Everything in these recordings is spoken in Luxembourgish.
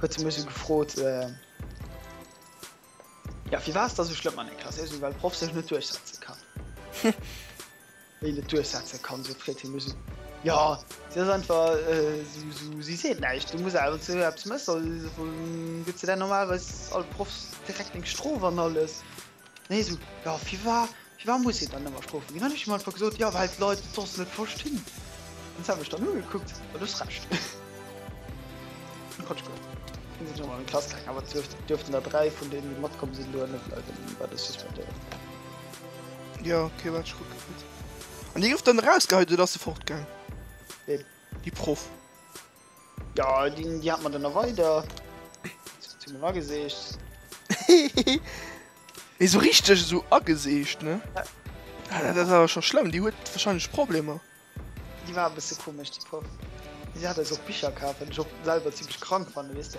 Huet se mech esou gefrot. Ja, firwat ass dat esou schlëmm an der Klass? Sou ech, well d'Proff sech net duerchsetze kann. Wéi net duerchsetze kann, sou freet hie mech esou. Ja, si ass einfach esou, si seet näischt. Du muss awer, wann se eppes mécht, soll, gëtt se där normalerweis all Proff direkt eng Strof an alles. Nee esou, jo firwar firwar muss een dann ëmmer Strofe ginn? Hunn ech him einfach gesot, jo well d'Leit et soss net verstinn. An se hu mech dann ugekuckt, jo du hues Recht. Quatsch gemaach. Dann sinn ech erëm an d'Klass gaangen, awer et duerft duerften der dräi vun deenen déi matkomm sinn doheem net bleiwen, dann war dat suspendéiert. Jo okay, wat ech kucken net. An déi gouf dann erausgeheit oder ass se fortgaang? Ween? Déi Proff. Ja, die, die hat man dann noch weiter. Zu mir angesägt. Wie so richtig so angesägt, ne? Ja. Ah, das ist aber schon schlimm, die hat wahrscheinlich Probleme. Die war ein bisschen komisch, die Puff. Sie hat also auch Bücher gehabt, wenn ich auch selber ziemlich krank fand, weißt du?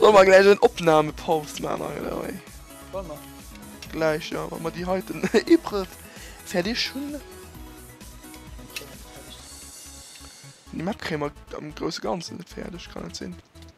Soll man gleich en Opname Paus man Gleich ja man die heiten Ibre fertig schon Die Map krämer am große ganzen fertig kann sinn.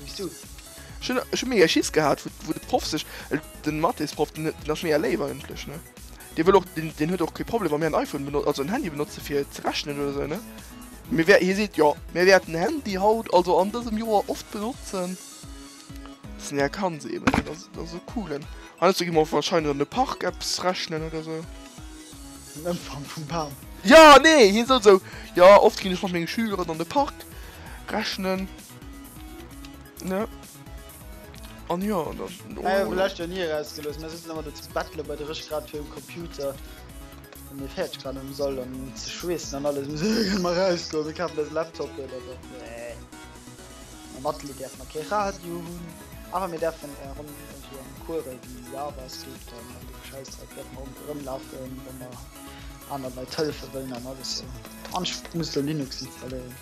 Wéis du? Ech hunn, ech hunn méi Schiss gehat, wou, wou de Proff sech, den Mathésproff, den, den ass mir ja léiwer ëmtlech, ne? Dee wëll och, den, den huet och kee Problem, wa mir en iPhone beno, also en Handy benotze fir ze rechnen oder esou, ne? Mir wäer, hie seet, jo, mir wäerten en Handy haut, also an dësem Joer, oft benotzen. Bis en är kann, se eben, dat ass, dat ass e coolen. Heiansdo gi mer wahrscheinlech an de Park eppes rechnen oder esou. Den Ëmfang vum Bam. Ja, nee, hien sot esou, jo, oft ginn ech mat menge Schüleren an de Park rechnen. Ne? An ah, ja, das. Oh, ja, vielleicht ja nie rausgelöst. Wir sitzen aber zu Battle bei der Risch gerade für den Computer. Und mir fährt gerade im Soll und zu schwissen und alles. Wir mal rauskommen. Ich habe das Laptop oder so. Nee. Am Battle darf man kein Radio haben. Aber wir dürfen äh, rum irgendwie am Kurve, wie ja was gibt. Und dann die Scheiße, da dürfen wir rumlaufen, wenn wir anderen Leute helfen wollen und alles so. Und ich muss da Linux installieren.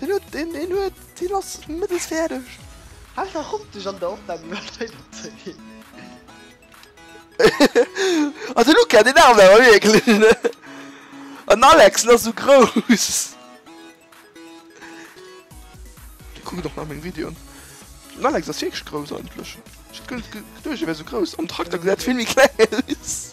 Den huet den den huet den ass mëttes fäerdeg. Einfach kommt dech an der Opnam iwwerzeugin. Ah de Luca den Arme awer wierklech ne an Alex ass sou grouss. Déi kucken och nach meng Videon. Den Alex ass wierklech grouss eigentlech. Ech hat guer net geduecht e wär sou grouss. Am Trakter gesäit e vill méi kleng aus.